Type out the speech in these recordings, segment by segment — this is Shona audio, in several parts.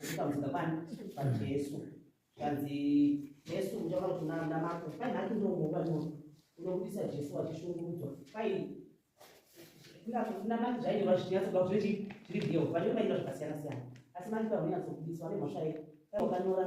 Zvikamuzika kwani paJesu. Zvanzi Jesu muchaona kuti mwana mako kwai nhaki ndinomuka ndinono unobudisa Jesu wachishungurudzwa kwai namati zvainyorwa zvichinyatsobuda kuti zviri zviri real vanenge vainyorwa zvakasiyana siyana asi mati pavanyatsobudiswa vane mhosva yei kwai wakanyora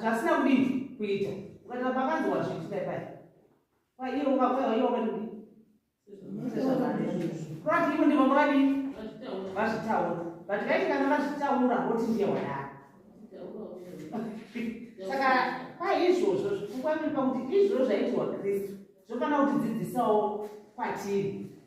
zvasina kudii kuita ukataa pakanzi wazviitira pai kwaiye ukakwaiye wakadii kurati ivo ndivo mavadii vazvitaura but vaiti kana vazvitaura voti ndiye wadaro saka paizvozvo zvikukwaniri pakuti izvozvo zvaitirwa kristu zvofanira kutidzidzisawo kwatiri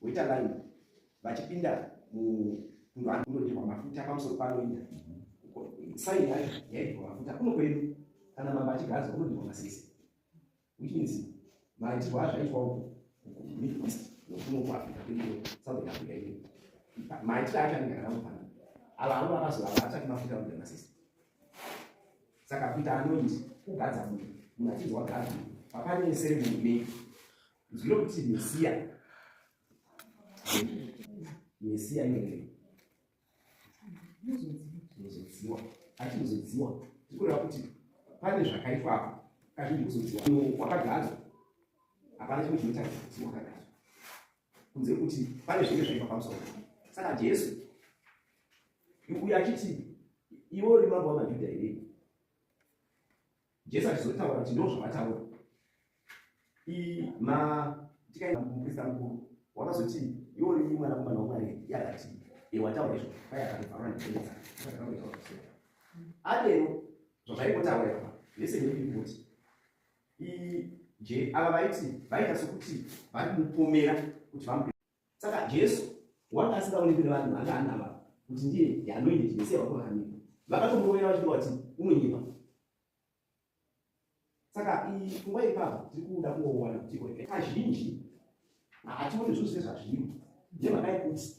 Voita line vachipinda mukunhu kunodirwa mafuta pamusoro panoenda saini yacho yaidirwa mafuta kuno kwedu kana mamba achigaza kunodirwa masese which means maitirwa azvaitwa uku middle east nokuno kuafrica kwedio southern africa ine maitiro acho anenge akangofana ava avo vakazoava achati mafuta kunodirwa masese saka kuita anoiti kugadza munhu munhu achinzwa gadza pakane seremoni nei Zino kuti Mesia. Mesia inenge. Muzodziwa. Ati muzodziwa. Tikureva kuti pane zvakaitwa apa. Kazhinji kuzodziwa. Wakagadzwa. Hapana chimwe chinoita kuti wakagadzwa. Kunze kuti pane zvimwe zvaipa pamusoro. Saka Jesu. Uye achiti iwe uri mambo wamaJuda here? Jesu achizotaura kuti ndoo zvavataura ma tikaenda kumuprista mukuru wakazoti iwo ri mwanakomana wamwari yakati e wataura izvo kwai akanofarwa ndikenesa akaotaura so adero zvazvaikotaura apa lese neipoti i je ava vaiti vaita sokuti vari kumupomera kuti vamu saka jesu wanga asingaonekwi nevanhu vanga anava kuti ndiye anoita chimesiya vako vakamira vakatomurovera vachida vati unonyipa saka pfungwa ipapo tiri kuda kungowana kuti iko kazhinji hationi zvinhu zvine zvazviri nemhaka yekuti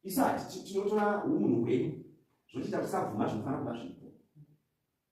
isati tinotora umunhu hwedu zvochiita kusabvuma zvinofanira kuva zvipo